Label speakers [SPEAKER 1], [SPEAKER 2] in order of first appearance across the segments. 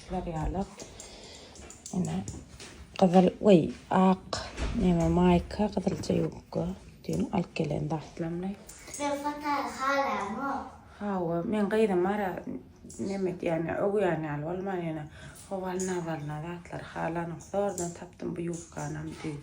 [SPEAKER 1] Şular ýaly ine gyzyl we ak neme maýka, gyzylja ýubka düýn alyp gelen Daslamly. Sen fotory halaýaňmy? Hawa, men gyzym ara neme edýän, öwýän ýaly bolman ýene owaly nazalyna zatlary halanok. Zordan tapdym bu ýubkanam düýn.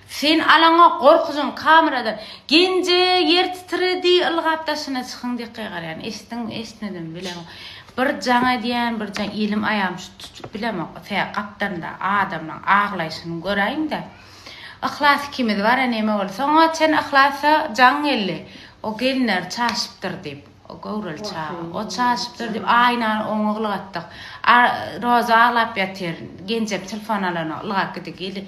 [SPEAKER 1] Sen alaňok gorkudan kameradan. Genje ýer titredi ylgap daşyna çykyň diýip gygarýan eşitdiňmi eşitmedimi bilemok bir jaň edýän bir jaň elim aýagym şu tutup bilemok tä gapdalynda adamlaň aglaýşyny göräýiňdä Yhlas ikimiz bara neme boldy soňa çen Yhlasa jaň geldi o gelinleri çaşypdyr diýip o göwreli çaga o çaşypdyr diýip aýnany oňa ylgatdyk Roza aglap ýatyr Genjem telefon alanok ylgap gidi geli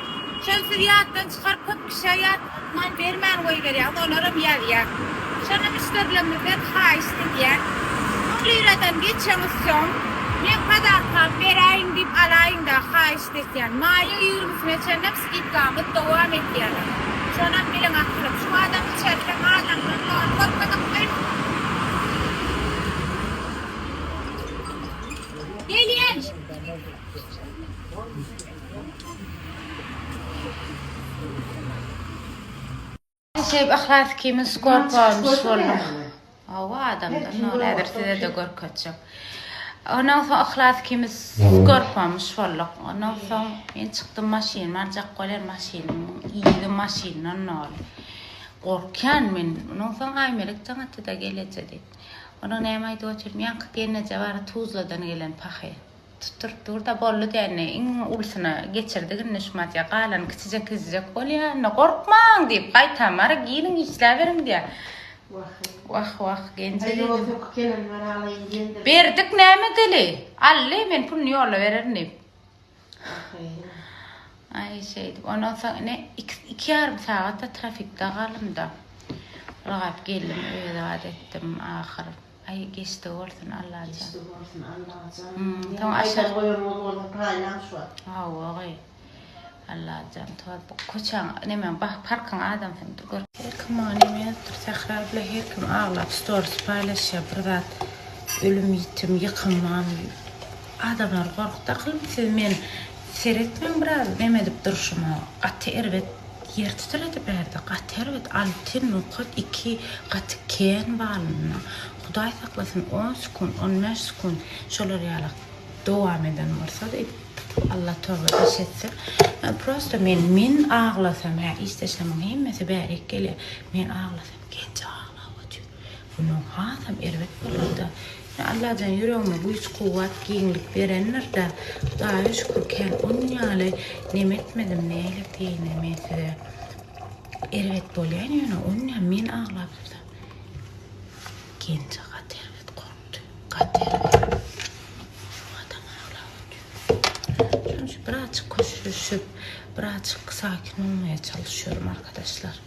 [SPEAKER 1] Şony siz ýatdan çykaryp köp kişä ýat man bermän goýberýäňiz olaram ýazýar. Şony müşderilerimizden haýyşt edýän. Soň liradan geçeňiz soň men kazarkam beräýiň diýip alaýyň da haýyşt etýän. Maýyň ýigrimisine çenlem skidkamyz dowam etýäler. Şonam biliň akylym. Şu adam içeride mallaň ýokdugyny görmedikmi? Gelin! Ajaýyp yhlas kimin skor porunyş boldum. Hawa adamdan nol häzir sizede görkezjek. Ondan soň yhlas kimin skor pomuş bolduk. Ondan soň men çykdym maşynymy aljak bolan maşynyň ýygy maşyndan nol. Gorkýan men. Ondan soň Aýmelek jaň atdy da geleje diýip. Onuň näme aýdyp otyr? Ýaňky gelneje bar Tuzladan gelen pahy. Tutduryp dur-da, boldy dändi. Iň ulusyna geçirdik indi şu madýa. Galany kiçijek ezdijek bolýa. Indi gorkmaň! diýip, gaýtam. Ara giriň, işläberiň! diýýä. Wah-eý. Wah-wah, genjek eden. Aýo, söküp gelen bar, alaýyn diýendir. Berdik, näme dili? Aldy, men puluny ýolla bererin diýip. Wah-eý. Aý, şeýdip, ondan soň ine, iki, iki ýarym sagat-da trafikde galdym-da. Ylgap geldim, öýe zat etdim, ahyr. Aý geçdi bolsun Allajan. Geçdi bolsun Allajan. Soň aşar goýanymyz bolsa paýlaň şu wagt. Hawa gaý. Allajan tor bu köçäň nemäň bah parkyň adamsyny dur gör. Her kim maňa neme ýazypdyr Sähra bile her kim aglap storis paýlaşýar bir zat ölüm ýitim ýykym mam diýip. Adamlary gorkup dakylmy siz men Seret men biraz nem edip durşuma gaty erbet ýer tüteledi bärde gaty erbet alty nokat iki gaty kän balynda hudaý saklasyn on sekunt on bäş sekunt şolar ýaly dowam eden bolsa diýip alla toba daş etsin prosta men men aglasam hä işdeşlemiň hemmesi bärik gelýär men aglasam genji aglap otyr Günüň hasam erbet bolanda, ine, Allajan ýüregime güýç-kuwwat, giňlik berendir-de, Hudaýa şükür, kän ol gün ýaly nem etmedim, nälet diýeýine men size. Erbet bolýan, ýöne ol gün hem men aglapdym-da. Genje gaty erbet gorkdy. Gaty erbet. Adam aglap otyrka. Şonuň üçin birazjyk köşeşip, birazjyk sakin bolmaýa çalyşýarym, arkadaşlar.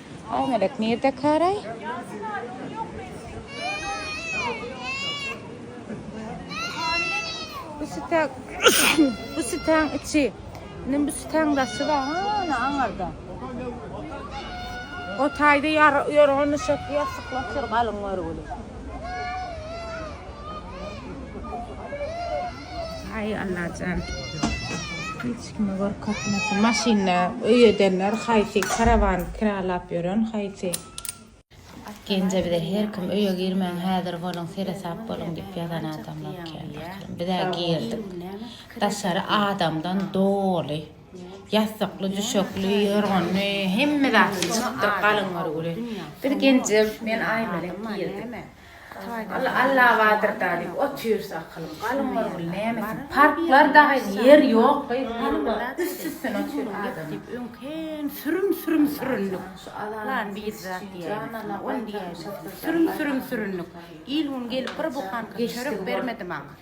[SPEAKER 1] Aý melek nirde karaý. Bu sütä bu sütäň içi. Nim bu sütäň daşy bar. Ana aňarda. O taýda ýar ýorgan düşek ýassyklap ýör galyň görgüli. Aý Allajan. Kime görkezmesi maşynda öý edenler haýsy karawan kiralap ýören haýsy. Genje bize her kim öýe girmäň häzir boluň seresap boluň diýip ýazan adamlar kän pahyr bizä girdik daşary adamdan doly ýassykly düşekli ýorganly hemme zat çykdyr galyň örgüli biz genje men aýmelek girdik. Allawadyrda diýip otyrys akylym galynmaz bul näme sen parklar dagyn ýer ýok goý palma üst üstüne otyr adam diýip öň kän sürüm sürüm süründik lan bir zat diýäýmesin ony diýäýmesin sürüm sürüm süründik il gün gelip bir buhanka çörek bermedi maňa.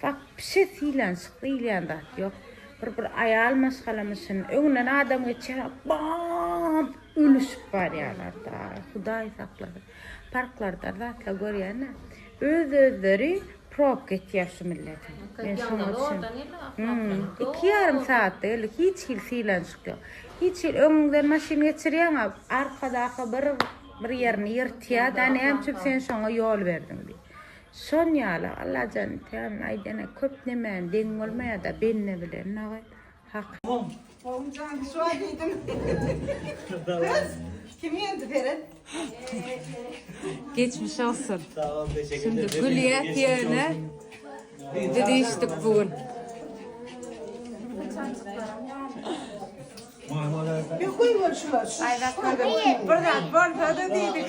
[SPEAKER 1] Wapşe sylanşyk diýilýän zat ýok. Bir bir aýal maşgalamy şun. Öňünden adam geçýär, bap! Ölüşip barýarlar-da. Hudaý saklasyn. Parklarda zatlar görýän-ä. Öz-özleri probka etýär şu milletiň. Men şoňa düşündim. Iki ýarym sagatda geldi. Hiç hili sylanşyk ýok. Hiç hili öňüňden maşyn geçirýäň-ä, arkadaky bir bir ýerini ýyrtýar-da, näme üçin sen şoňa ýol berdiň diýip. Şon ýaly Allajan Tealanyň aýdýany köp nemäniň deň bolmaýada bende bilen dagy hak. Goň. Goň jan şo diýdim. Gyz kim geldi Feret. Geçmiş olsun. Şimdi gülýäs ýöne düzüşdik bu gün. Aýratyn bir zat bolsady diýdik.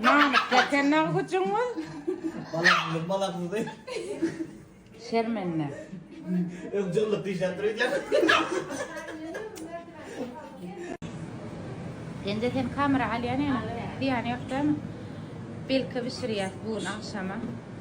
[SPEAKER 1] Namyk ýeten nag güjüňiz. Balaksyz, balaksyz diý. Şermende. Öň jyllyk diýşäp dur edýär. Penje sen kamera alýan ýaly, zyýany ýok dämi? Belki bişirýäs bu gün agşama.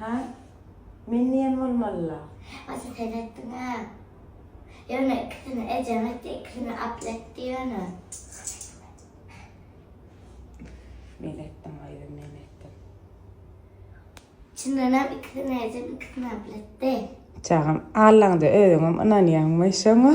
[SPEAKER 1] Ha? Men diýen bolmalyla. Ata sen etdiňä. Ýöne ikisini ejeň etdi, ikisini Abla etdi ýöne. Men etdim gyzym, men etdim. Çyndanam ikisini ejem, ikisini Abla etdi. Çagam, Allaňda özüňem ynanýaňmy şoňa?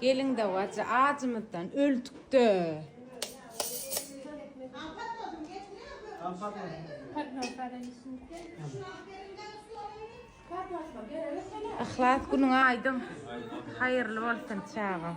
[SPEAKER 1] Gelin dawajy ajymyzdan öldükde. Yhlas günüň aýdyň. Haýyrly bolsun çagam.